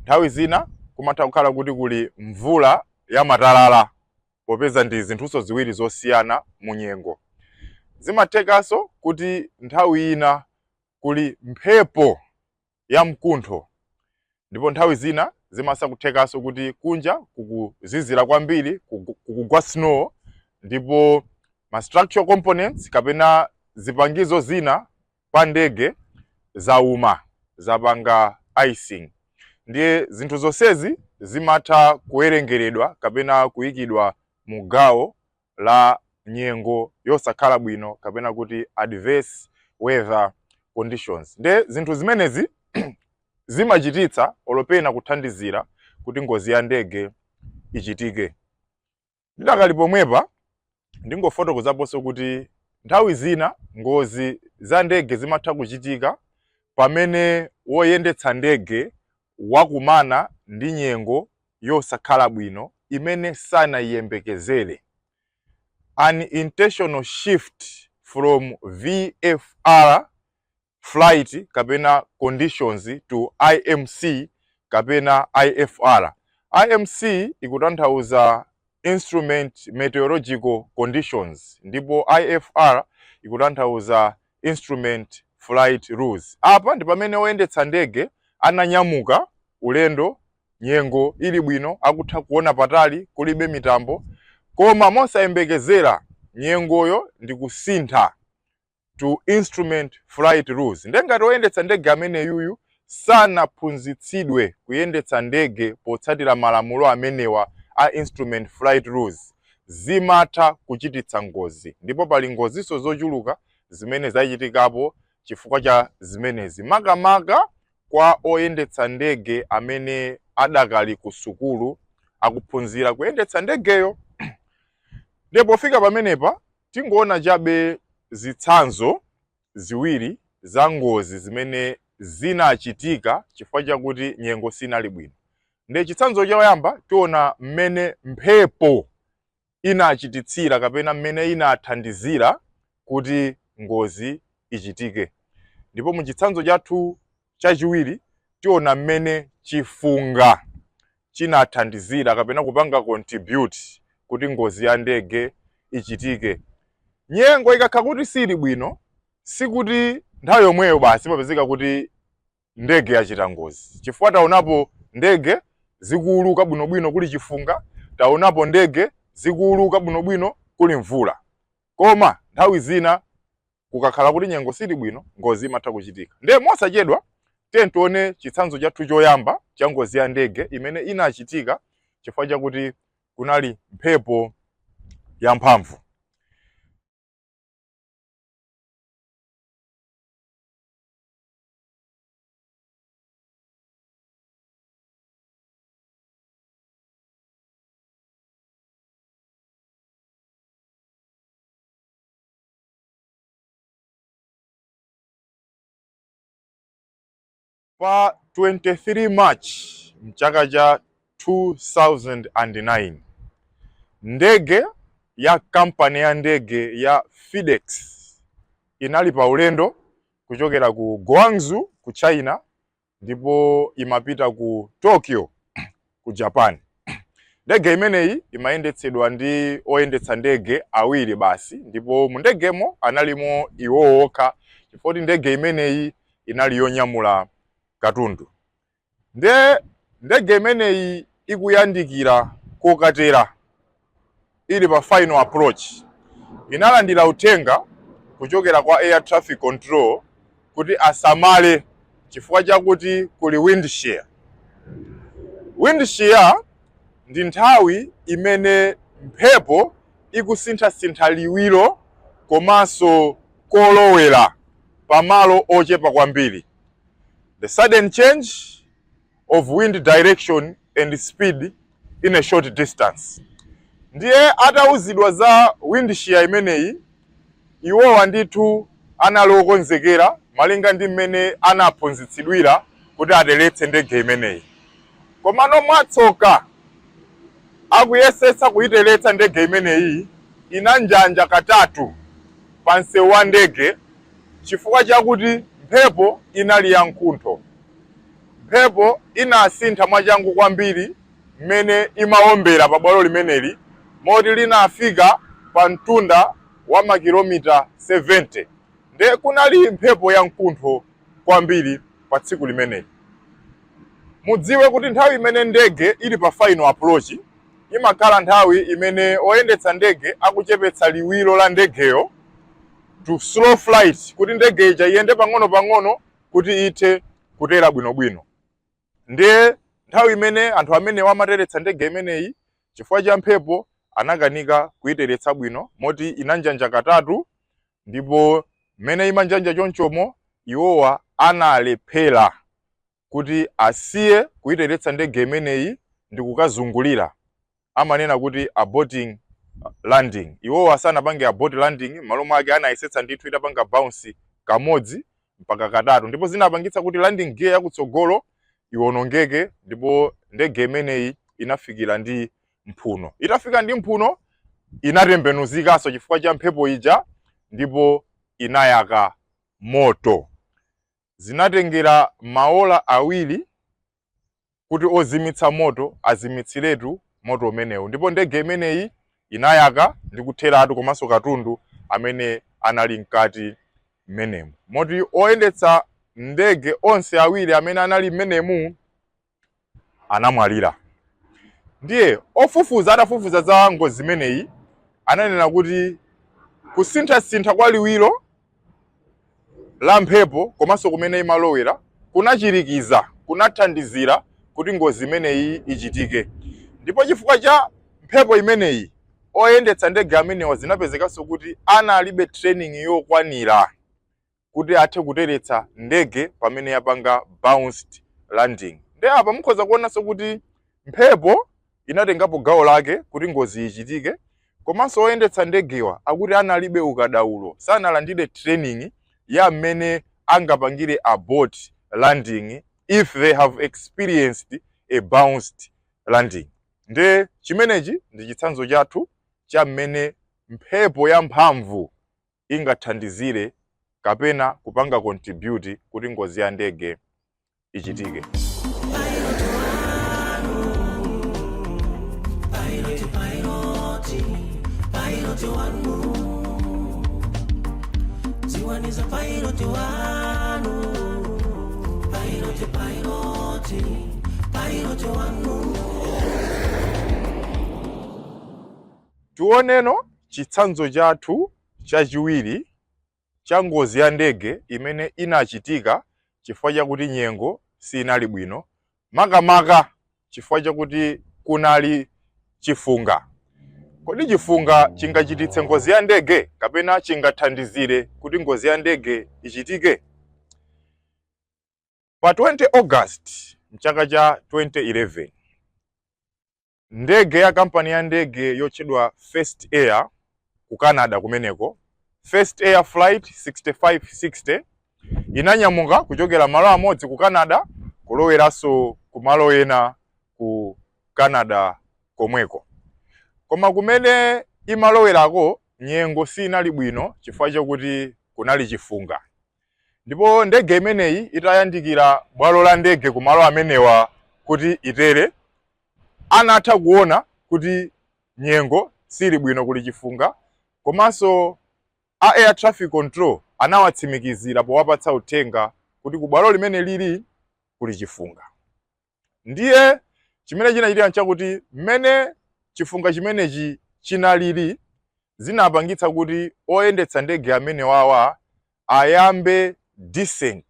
nthawi zina kumatha kukhala kuti kuli mvula yamatalala, popeza ndi zinthunso ziwiri zosiyana mu nyengo. Zimathekanso kuti nthawi ina kuli mphepo ya mkuntho ndipo nthawi zina zimatha kuthekanso kuti kunja kukuzizira kwambiri kugu- kukugwa snow ndipo ma structural components kapena zipangizo zina pa ndege zauma zapanga icing ndiye zinthu zonsezi zimatha kuwerengeredwa kapena kuyikidwa mu gawo la nyengo yosakhala bwino kapena kuti adverse weather conditions nde zinthu zimenezi zimachititsa olo pena kuthandizira kuti ngozi ya ndege ichitike ndidakali pomwepa ndingofotokozaponso kuti nthawi zina ngozi za ndege zimatha kuchitika pamene woyendetsa ndege wakumana ndi nyengo yosakhala bwino imene sanaiyembekezere, unintentional shift from VFR flight kapena conditions to IMC kapena IFR. IMC ikutanthauza instrument meteorological conditions ndipo IFR ikutanthauza Instrument Flight Rules. Apa ndi pamene oyendetsa ndege ananyamuka ulendo nyengo ili bwino, akutha kuona patali, kulibe mitambo, koma mosayembekezera nyengoyo ndikusintha to instrument flight rules. Nde ngati oyendetsa ndege ameneyuyu sanaphunzitsidwe kuyendetsa ndege potsatira malamulo amenewa a instrument flight rules, zimatha kuchititsa ngozi. Ndipo pali ngozinso zochuluka zimene zachitikapo chifukwa cha zimenezi, makamaka kwa oyendetsa ndege amene adakali kusukulu akuphunzira kuyendetsa ndegeyo. Ndiye pofika pamenepa, tingoona chabe zitsanzo ziwiri za ngozi zimene zinachitika chifukwa chakuti nyengo sinali bwino. Nde chitsanzo choyamba tiona mmene mphepo inachititsira kapena mmene inathandizira kuti ngozi ichitike. Ndipo mu chitsanzo chathu Chachiwiri, tiona mmene chifunga chinathandizira kapena kupanga contribute kuti ngozi ya ndege ichitike. Nyengo ikakhala kuti siili bwino, sikuti nthawi yomweyo basi imapezeka kuti ndege yachita ngozi, chifukwa taonapo ndege zikuuluka bwinobwino kuli chifunga, taonapo ndege zikuuluka bwinobwino kuli mvula. Koma nthawi zina kukakhala kuti nyengo sili bwino ngozi imatha kuchitika ndiye mosachedwa tiye tione chitsanzo chathu choyamba cha ngozi ya ndege imene inachitika chifukwa chakuti kunali mphepo yamphamvu Pa 23 March mchaka cha 2009 ndege ya kampani ya ndege ya FedEx inali pa ulendo kuchokera ku Guangzhou ku China ndipo imapita ku Tokyo ku Japan. Ndege imeneyi imayendetsedwa ndi oyendetsa ndege awiri basi, ndipo mu ndegemo analimo iwowo okha chifukwa choti ndege imeneyi inali yonyamula katundu. Nde ndege imeneyi ikuyandikira kokatera ili pa final approach inalandira uthenga kuchokera kwa air traffic control kuti asamale chifukwa chakuti kuli wind shear. Wind shear ndi nthawi imene mphepo ikusinthasintha liwiro komanso kolowera pamalo ochepa kwambiri. The sudden change of wind direction and speed in a short distance. Ndiye atauzidwa za wind shear imeneyi iwowa ndithu anali okonzekera malinga ndi mmene anaphunzitsidwira kuti ateretse ndege imeneyi. Komano mwatsoka akuyesetsa kuyiteretsa ndege imeneyi inanjanja katatu pa msewu wa ndege chifukwa chakuti mphepo inali ya mkuntho. Mphepo inasintha mwachangu kwambiri mmene imawombera pabwalo limeneli moti linafika pa mtunda wa makilomita 70. Ndiye kunali mphepo yamkuntho kwambiri pa tsiku limeneli. Mudziwe kuti nthawi imene ndege ili pa final approach imakhala nthawi imene oyendetsa ndege akuchepetsa liwiro la ndegeyo to slow flight kuti ndege ija iyende pang'onopang'ono kuti ithe kutera bwinobwino ndiye nthawi imene anthu amenewa amateretsa ndege imeneyi chifukwa cha mphepo anakanika kuiteretsa bwino moti inanjanja katatu ndipo mmene imanjanja chonchomo iwowa analephera kuti asiye kuiteretsa ndege imeneyi ndi kukazungulira amanena kuti aborting landing. Iwowa sanapange abort landing, m'malo mwake anayesetsa ndithu itapanga bounce kamodzi mpaka katatu ndipo zinapangitsa kuti landing gear yakutsogolo iwonongeke ndipo ndege imeneyi inafikira ndi mphuno. Itafika ndi mphuno inatembenuzikanso chifukwa cha mphepo ija ndipo inayaka moto. Zinatengera maola awiri kuti ozimitsa moto azimitsiretu moto umenewu ndipo ndege imeneyi inayaka ndi kutheratu komanso katundu amene anali mkati mmenemu moti oyendetsa ndege onse awiri amene anali mmenemu anamwalira ndiye ofufuza atafufuza za ngozi imeneyi ananena kuti kusinthasintha kwa liwiro la mphepo komanso kumene imalowera kunachirikiza, kunathandizira kuti ngozi imeneyi ichitike. Ndipo chifukwa cha mphepo imeneyi, oyendetsa ndege amenewa zinapezekanso kuti analibe training yokwanira kuti athe kuteretsa ndege pamene yapanga bounced landing. Nde apa mukhoza kuonanso kuti mphepo inatengapo gawo lake kuti ngozi ichitike komanso oyendetsa ndegewa akuti analibe ukadaulo, sanalandire training ya mmene angapangire abort landing if they have experienced a bounced landing. Nde chimenechi ndi chitsanzo chathu cha mmene mphepo yamphamvu ingathandizire kapena kupanga contribute kuti ngozi ya ndege ichitike Tiwaniza pilot wanu Pilot, pilot Pilot wanu tioneno chitsanzo chathu chachiwiri cha ngozi ya ndege imene inachitika chifukwa chakuti nyengo siinali bwino, makamaka chifukwa chakuti kunali chifunga. Kodi chifunga chingachititse ngozi ya ndege kapena chingathandizire kuti ngozi ya ndege ichitike? Pa 20 August m'chaka cha 2011, Ndege ya kampani ya ndege yotchedwa First Air ku Canada kumeneko, First Air Flight 6560 inanyamuka kuchokera malo amodzi ku Canada kuloweranso ku malo ena ku Canada komweko. Koma kumene imalowerako nyengo siinali bwino chifukwa chakuti kunali chifunga. Ndipo ndege imeneyi itayandikira bwalo la ndege ku malo amenewa kuti itere, Anatha kuona kuti nyengo sili bwino kuli chifunga komanso a Air Traffic Control anawatsimikizira powapatsa uthenga kuti ku bwalo limene lili kuli chifunga. Ndiye chimene chinachitika nchakuti mmene chifunga chimenechi chinalili zinapangitsa kuti oyendetsa ndege amenewawa ayambe descent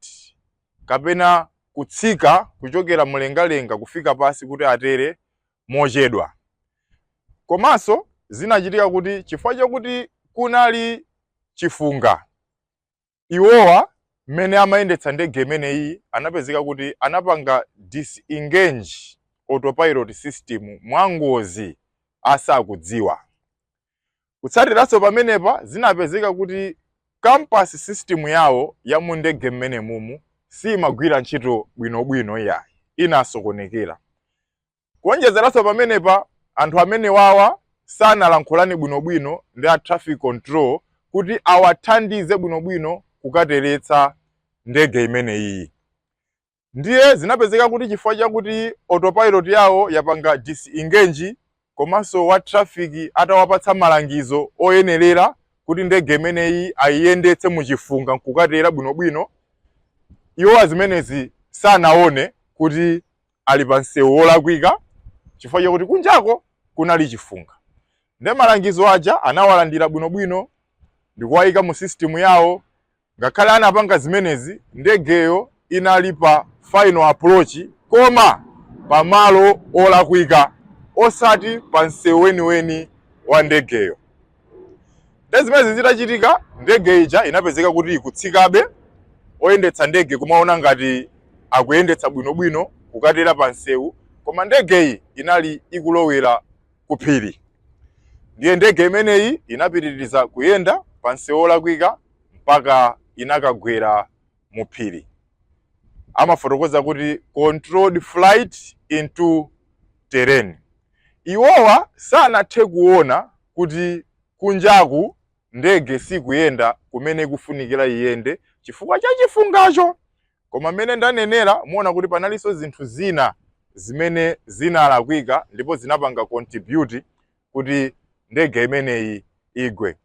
kapena kutsika kuchokera mlengalenga kufika pansi kuti atere mochedwa. Komanso zinachitika kuti chifukwa chakuti kunali chifunga, iwowa mmene amayendetsa ndege imeneyi anapezeka kuti anapanga disengage autopilot system mwangozi asakudziwa. Kutsatiranso pamenepa, zinapezeka kuti compass system yawo ya mu ndege mmenemumu siimagwira ntchito bwinobwino iyayi, inasokonekera. Kuonjezeranso pamenepa, anthu amenewawa sanalankhulane bwinobwino ndi a traffic control kuti awathandize bwinobwino kukateretsa ndege imeneyiyi. Ndiye zinapezeka kuti chifukwa chakuti autopilot yawo yapanga disengage komanso wa traffic atawapatsa malangizo oyenerera kuti ndege imeneyi ayiyendetse mu chifunga nkukatera bwinobwino, iwowa zimenezi sanaone kuti ali pa msewu wolakwika chifukwa chakuti kunjako kunali chifunga. Ndiye malangizo aja anawalandira bwinobwino ndikuwayika mu system yawo Ngakhale anapanga zimenezi, ndegeyo inali pa final approach koma pa malo olakwika osati pa nsewu weniweni wa ndegeyo. Nde zimenezi zitachitika, ndege ija inapezeka kuti ikutsikabe, oyendetsa ndege kumaona ngati akuyendetsa bwinobwino kukatera pa nsewu, koma ndegeyi inali ikulowera ku phiri. Ndiye ndege imeneyi inapitiriza kuyenda pa nsewu olakwika mpaka inakagwera mu phiri. Amafotokoza kuti controlled flight into terrain. Iwowa sanathe kuona kuti kunjaku ndege sikuyenda kumene ikufunikira iyende chifukwa cha chifungacho. Koma mmene ndanenera, muona kuti panalinso zinthu zina zimene zinalakwika ndipo zinapanga contribute kuti ndege imeneyi igwe.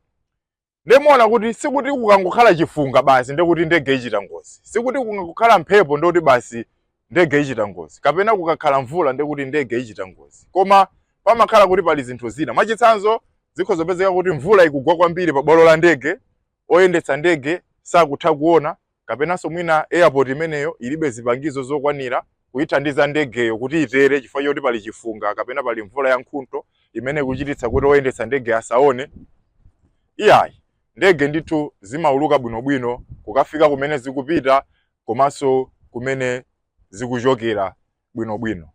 nde muona kuti sikuti kukangokhala chifunga basi nde kuti ndege ichita ngozi sikuti kukangokhala mphepo nde kuti basi ndege ichita ngozi kapena kukakhala mvula nde kuti ndege ichita ngozi koma pamakhala kuti pali zinthu zina mwachitsanzo zikhoza kupezeka kuti mvula ikugwa kwambiri pa bwalo la ndege oyendetsa ndege sakutha kuona kapenanso mwina airport imeneyo ilibe zipangizo zokwanira kuithandiza ndegeyo kuti itere chifukwa choti pali chifunga kapena pali mvula ya nkhuntho imene ikuchititsa kuti oyendetsa ndege asaone iyayi ndege ndithu zimauluka bwinobwino kukafika kumene zikupita komanso kumene zikuchokera bwinobwino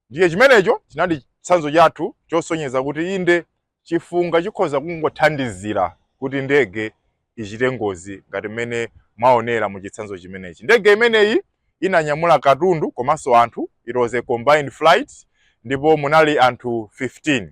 Ndiye chimenecho chinali chitsanzo chathu chosonyeza kuti inde, chifunga chikhoza kungothandizira kuti ndege ichite ngozi ngati mmene mwaonera mu chitsanzo chimenechi. Ndege imeneyi inanyamula katundu komanso anthu. It was a combined flight ndipo munali anthu 15.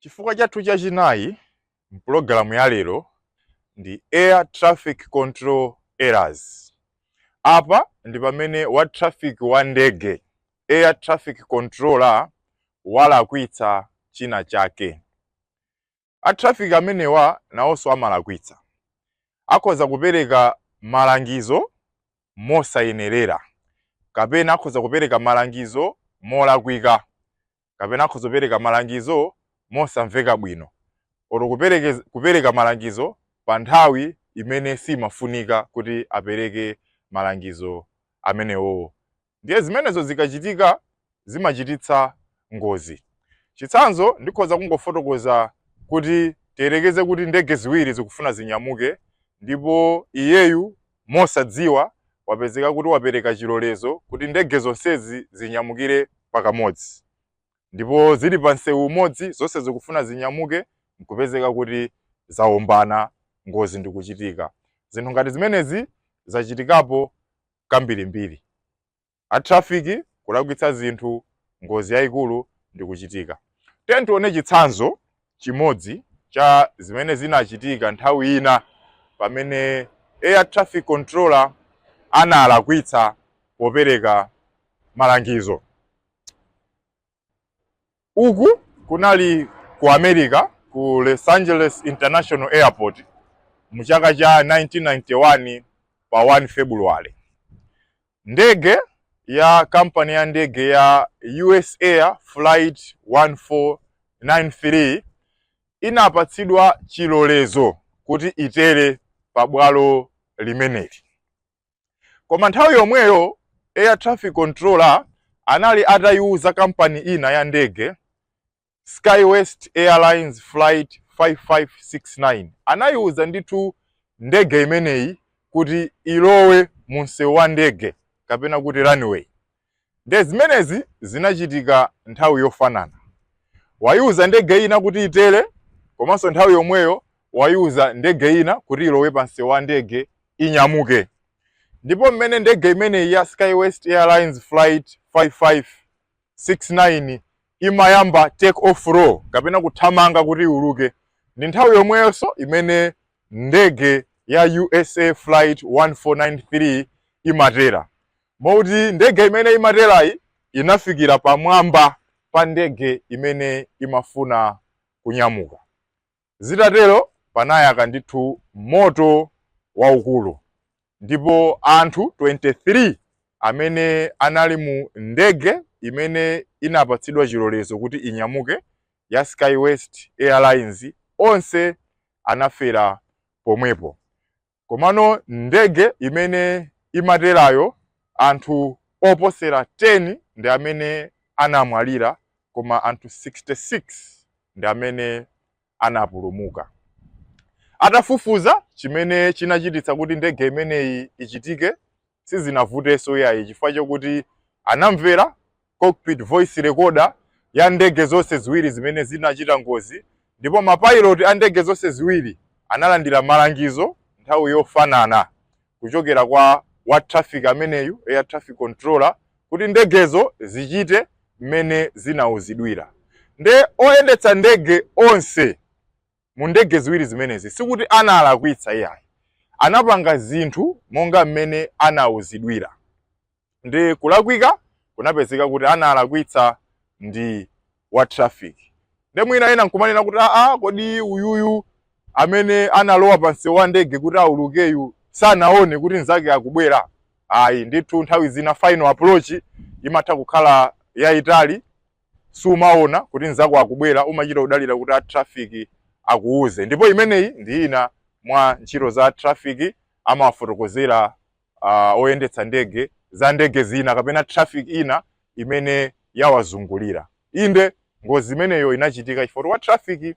Chifukwa chathu chachinayi m'pulogalamu ya lero ndi Air Traffic Control Errors. Apa ndi pamene wa traffic wa ndege, air traffic controller, walakwitsa china chake. A traffic amenewa nawonso amalakwitsa. Akhoza kupereka malangizo mosayenerera, kapena akhoza kupereka malangizo molakwika, kapena akhoza kupereka malangizo mosamveka bwino, oro kupereka malangizo pa nthawi imene simafunika kuti apereke malangizo amenewo. Ndiye zimenezo zikachitika, zimachititsa ngozi. Chitsanzo, Ndikhoza kungofotokoza kuti tiyerekeze kuti ndege ziwiri zikufuna zinyamuke ndipo iyeyu mosadziwa wapezeka kuti wapereka chilolezo kuti ndege zonsezi zinyamukire pakamodzi. Ndipo zili pa msewu umodzi zonse zikufuna zinyamuke n'kupezeka kuti zawombana, ngozi ndikuchitika. Zinthu ngati zimenezi zachitikapo kambirimbiri. a traffic kulakwitsa zinthu ngozi yayikulu ndikuchitika. Tiyeni tione chitsanzo chimodzi cha zimene zinachitika nthawi ina pamene air traffic controller analakwitsa popereka malangizo. uku kunali ku america ku los angeles international airport mu chaka cha 1991 pa 1 february ndege ya kampani ya ndege ya us air flight 1493 inapatsidwa chilolezo kuti itere pa bwalo limeneli koma nthawi yomweyo air traffic controller anali atayiwuza kampani ina ya ndege skywest airlines flight 5569 anayiwuza ndithu ndege imeneyi kuti ilowe mu msewu wa ndege kapena kuti runway Nde zimenezi zinachitika nthawi yofanana. Waiuza ndege ina kuti itere komanso nthawi yomweyo waiuza ndege ina kuti ilowe pa msewu wa ndege inyamuke. Ndipo mmene ndege imeneyi ya SkyWest Airlines Flight 5569 imayamba take off roll kapena kuthamanga kuti iuluke, ndi nthawi yomweyonso imene ndege ya USA Flight 1493 imatera. Moti ndege imene imaterayi inafikira pamwamba pa ndege imene imafuna kunyamuka. Zitatero panayaka ndithu moto waukulu ndipo anthu 23 amene anali mu ndege imene inapatsidwa chilolezo kuti inyamuke ya SkyWest Airlines onse anafera pomwepo. Komano ndege imene imaterayo anthu oposera 10 ndi amene anamwalira koma anthu 66 ndi amene anapulumuka. Atafufuza chimene chinachititsa kuti ndege imeneyi ichitike sizinavutenso iyayi chifukwa chokuti anamvera cockpit voice recorder ya ndege zonse ziwiri zimene zinachita ngozi ndipo mapayiloti a ndege zonse ziwiri analandira malangizo nthawi yofanana kuchokera kwa wa traffic ameneyu air traffic controller kuti ndegezo zichite mmene zinauzidwira nde oyendetsa ndege onse mu ndege ziwiri zimenezi sikuti analakwitsa iyayi anapanga zinthu monga mmene anauzidwira ndi kulakwika kunapezeka kuti analakwitsa ndi wa traffic nde mwina ena nkumanena kuti aa kodi uyuyu amene analowa pa msewu wa ndege kuti aulukeyu sanaone kuti nzake akubwera ayi ndithu nthawi zina final approach imatha kukhala yayitali Siumaona kuti nzako akubwera, umachita kudalira kuti a traffic akuuze. Ndipo imeneyi ndi ina mwa ntchito za a traffic, amawafotokozera uh, oyendetsa ndege za ndege zina kapena traffic ina imene yawazungulira. Inde ngozi imeneyo inachitika chifukwa wa traffic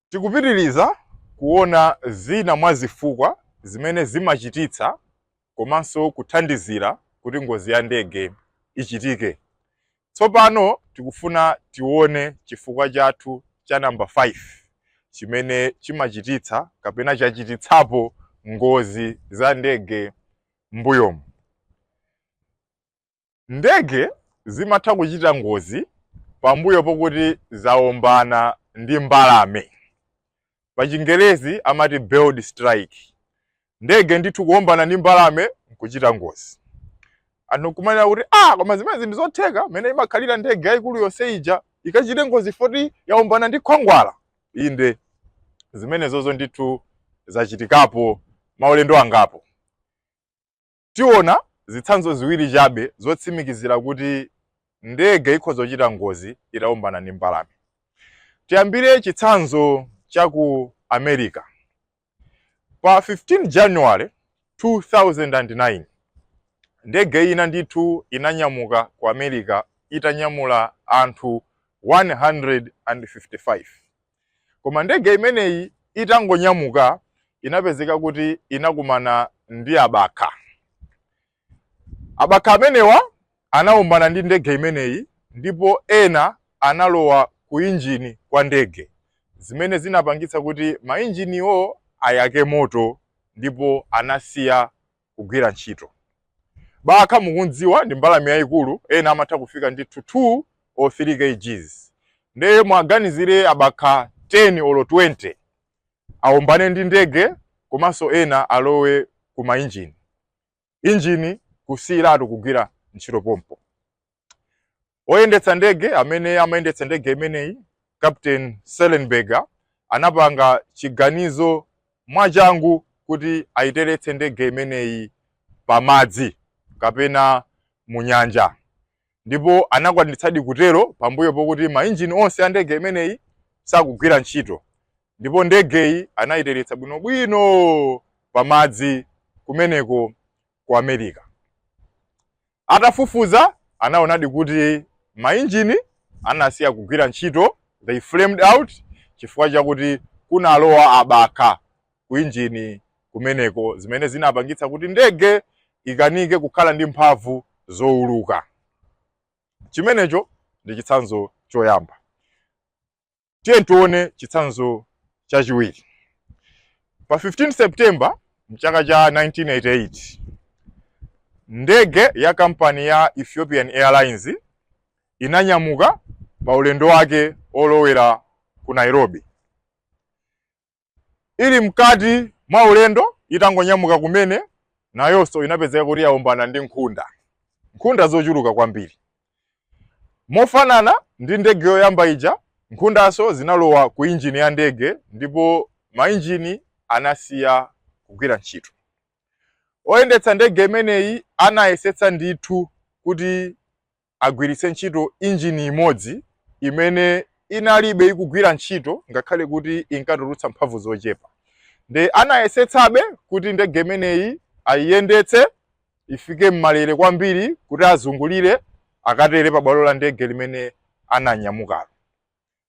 Tikupitiriza kuona zina mwa zifukwa zimene zimachititsa komanso kuthandizira kuti ngozi ya ndege ichitike. Tsopano tikufuna tione chifukwa chathu cha namba 5 chimene chimachititsa kapena chachititsapo ngozi za ndege m'mbuyomu. Ndege zimatha kuchita ngozi pambuyo pokuti zaombana ndi mbalame pachingerezi amati bird strike ndege ndithu kuombana ndi mbalame nkuchita ngozi anthu nkumanena kuti ah koma zimene ndi zotheka mene imakhalira ndege yayikulu yonse ija ikachite ngozi foti yaombana ndi khwangwala inde zimenezozo ndithu zachitikapo maulendo angapo Tiona zitsanzo ziwiri chabe zotsimikizira kuti ndege ikhoza kuchita ngozi itawombana ndi mbalame. Tiyambire chitsanzo cha ku America. Pa 15 January 2009, ndege ina ndithu inanyamuka ku America itanyamula anthu 155. Koma ndege imeneyi itangonyamuka inapezeka kuti inakumana ndi abakha. Abakha amenewa anawombana ndi ndege imeneyi ndipo ena analowa ku injini kwa ndege zimene zinapangitsa kuti mainjiniwo ayake moto ndipo anasiya kugwira ntchito. Bakha mukumdziwa ndi mbalame yayikulu, ena amatha kufika ndithu 2 or 3 kgs. Ndiye muwaganizire abakha 10 olo 20 awombane ndi ndege komanso ena alowe ku mainjini, injini kusiyiratu kugwira ntchito pompo. Oyendetsa ndege amene amayendetsa ndege imeneyi Captain Sullenberger anapanga chiganizo mwachangu kuti ayiteretse ndege imeneyi pamadzi kapena mu nyanja ndipo anakwanitsadi kutero pambuyo pokuti mainjini onse a ndege imeneyi sakugwira ntchito ndipo ndegeyi anayiteretsa bwinobwino pamadzi kumeneko ku America. Atafufuza, anaonadi kuti mainjini anasiya kugwira ntchito, they flamed out, chifukwa chakuti kunalowa abakha ku injini kumeneko zimene zinapangitsa kuti ndege ikanike kukhala ndi mphamvu zouluka. Chimenecho ndi chitsanzo choyamba. Tiyeni tione chitsanzo chachiwiri. Pa 15 September mchaka cha 1988 ndege ya kampani ya Ethiopian Airlines inanyamuka pa ulendo wake olowera ku Nairobi. Ili mkati mwa ulendo, itangonyamuka kumene, nayonso inapezeka kuti yaombana ndi nkhunda, nkhunda zochuluka kwambiri. Mofanana ndi ndege yoyamba ija, nkhundanso zinalowa ku injini ya ndege ndipo mainjini anasiya kugwira ntchito. Oyendetsa ndege imeneyi anayesetsa ndithu kuti agwiritse ntchito injini imodzi imene inalibe ikugwira ntchito ngakhale kuti inkatulutsa mphamvu zochepa nde anayesetsabe kuti ndege imeneyi ayiyendetse ifike m'malere kwambiri kuti azungulire akatere pa bwalo la ndege limene ananyamukalo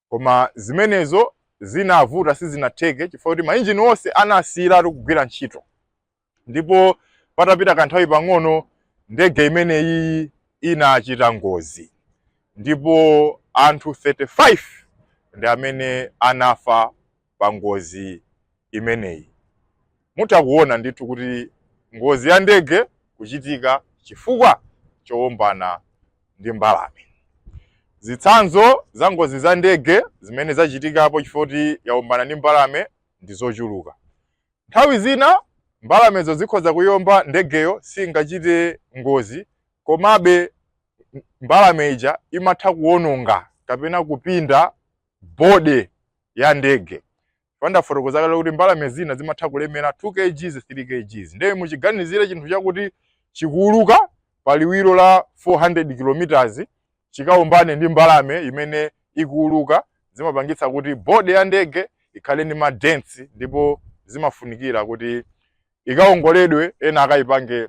koma zimenezo zinavuta sizinatheke chifukwa kuti mainjini onse anasiyiratu kugwira ntchito ndipo patapita kanthawi pang'ono ndege imeneyi inachita ngozi ndipo anthu 35 ndi amene anafa pa ngozi imeneyi. Mutha kuona ndithu kuti ngozi ya ndege kuchitika chifukwa chowombana ndi mbalame. Zitsanzo za ngozi za ndege zimene zachitikapo chifukwa kuti yawombana ndi mbalame ndi zochuluka. Nthawi zina mbalamezo zikhoza kuiomba ndegeyo siingachite ngozi, komabe mbalame ija imatha kuwononga kapena kupinda body ya ndege paja ndafotokoza kale kuti mbalame zina zimatha kulemera 2 kgs 3 kgs ndiye muchiganizire chinthu chakuti chikuuluka pa liwiro la 400 km chikaombane ndi mbalame imene ikuuluka zimapangitsa kuti body ya ndege ikhale ndi madents ndipo zimafunikira kuti ikaongoledwe ena akaipange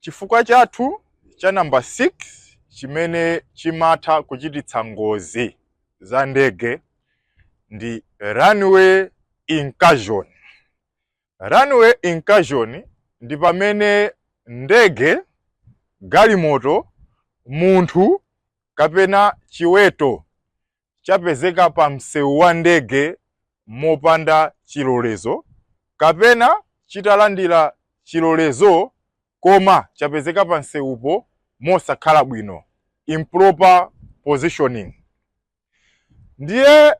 Chifukwa chathu cha namba 6 chimene chimatha kuchititsa ngozi za ndege ndi runway incursion. Runway incursion ndi pamene ndege, galimoto, munthu kapena chiweto chapezeka pa msewu wa ndege mopanda chilolezo kapena chitalandira chilolezo koma chapezeka pa msewupo mosakhala bwino improper positioning ndiye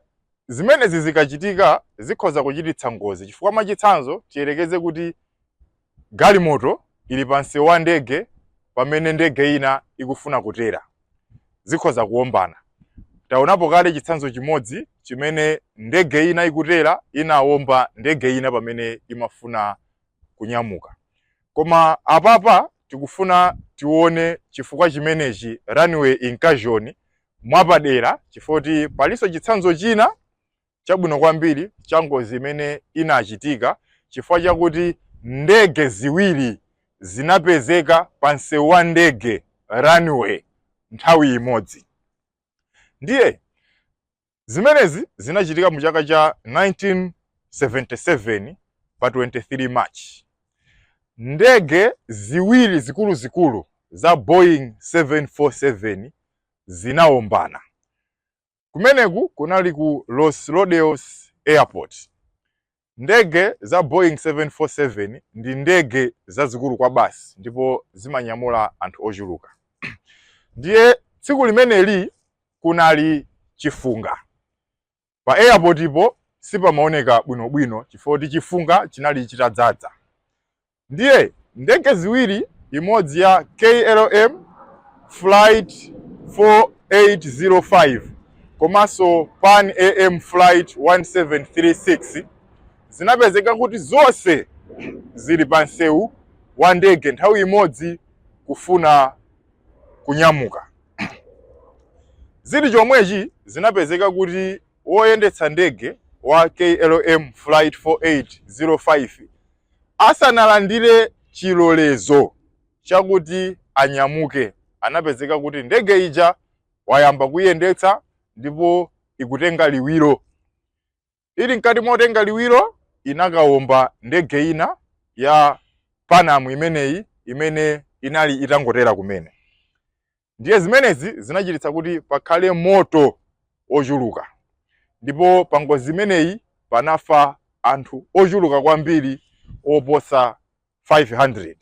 zimenezi zikachitika zikhoza kuchititsa ngozi chifukwa mwachitsanzo tiyerekeze kuti Galimoto ili pa msewu wa ndege pamene ndege ina ikufuna kutera. Zikhoza kuwombana. Taonapo kale chitsanzo chimodzi chimene ndege ina ikutera inawomba ndege ina pamene imafuna kunyamuka. Koma apapa tikufuna tione chifukwa chimenechi runway incursion mwapadera chifukwa kuti palinso chitsanzo china chabwino kwambiri cha ngozi imene inachitika chifukwa chakuti ndege ziwiri zinapezeka pa msewu wa ndege runway nthawi imodzi ndiye zimenezi zinachitika mu chaka cha 1977 pa 23 march ndege ziwiri zikuluzikulu za boeing 747 zinawombana Kumeneku kunali ku Los Rodeos Airport. Ndege za Boeing 747 ndi ndege zazikulu kwabasi ndipo zimanyamula anthu ochuluka. Ndiye tsiku limeneli kunali chifunga. Pa airportipo sipamaoneka bwinobwino chifukwa kuti chifunga chinali chitadzadza. Ndiye ndege ziwiri, imodzi ya KLM Flight 4805 komanso Pan AM Flight 1736, zinapezeka kuti zonse zili pa msewu wa ndege nthawi imodzi kufuna kunyamuka. Zili chomwechi, zinapezeka kuti woyendetsa ndege wa KLM Flight 4805 asanalandire chilolezo chakuti anyamuke, anapezeka kuti ndege ija wayamba kuyendetsa ndipo ikutenga liwiro. Ili mkati motenga liwiro, inakawomba ndege ina ya Panam imeneyi imene inali itangotera kumene. ndiye zimenezi zinachititsa kuti pakhale moto ochuluka ndipo pa ngozi imeneyi panafa anthu ochuluka kwambiri oposa 500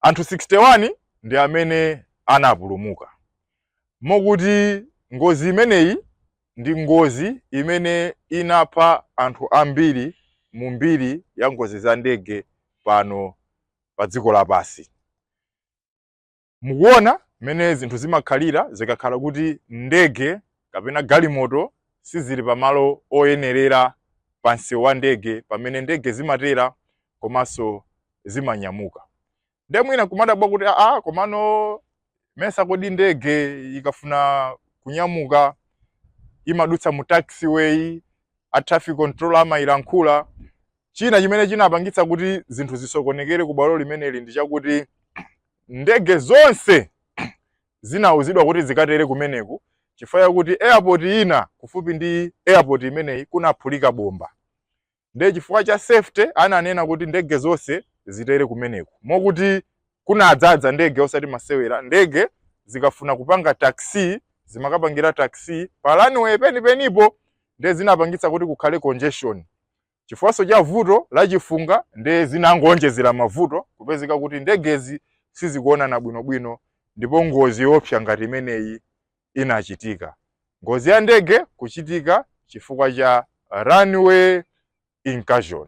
anthu 61 ndi amene anapulumuka mokuti ngozi imeneyi ndi ngozi imene inapha anthu ambiri mu mbiri ya ngozi za ndege pano pa dziko lapansi Mukuona mmene zinthu zimakhalira zikakhala kuti ndege kapena galimoto sizili pamalo oyenerera pa msewu wa ndege pamene ndege zimatera komanso zimanyamuka. Nde mwina nkumadabwa kuti aa, komano mesa kodi ndege ikafuna kunyamuka imadutsa mu taxiway a traffic controller amayilankhula China chimene chinapangitsa kuti zinthu zisokonekere ku bwalo limeneli ndi chakuti ndege zonse zinauzidwa kuti zikatere kumeneku chifukwa chakuti airport ina kufupi ndi airport imeneyi kunaphulika bomba ndiye chifukwa cha safety ananena kuti ndege zonse zitere kumeneku mokuti kunadzaza ndege osati masewera ndege zikafuna kupanga taxi zimakapangira taxi pa runway penipenipo ndiye zinapangitsa kuti kukhale congestion Chifukwanso cha vuto la chifunga nde zinangoonjezera mavuto kupezeka kuti ndegezi sizikuonana bwinobwino ndipo ngozi yoopsa ngati imeneyi inachitika. Ngozi ya ndege kuchitika chifukwa cha runway incursion.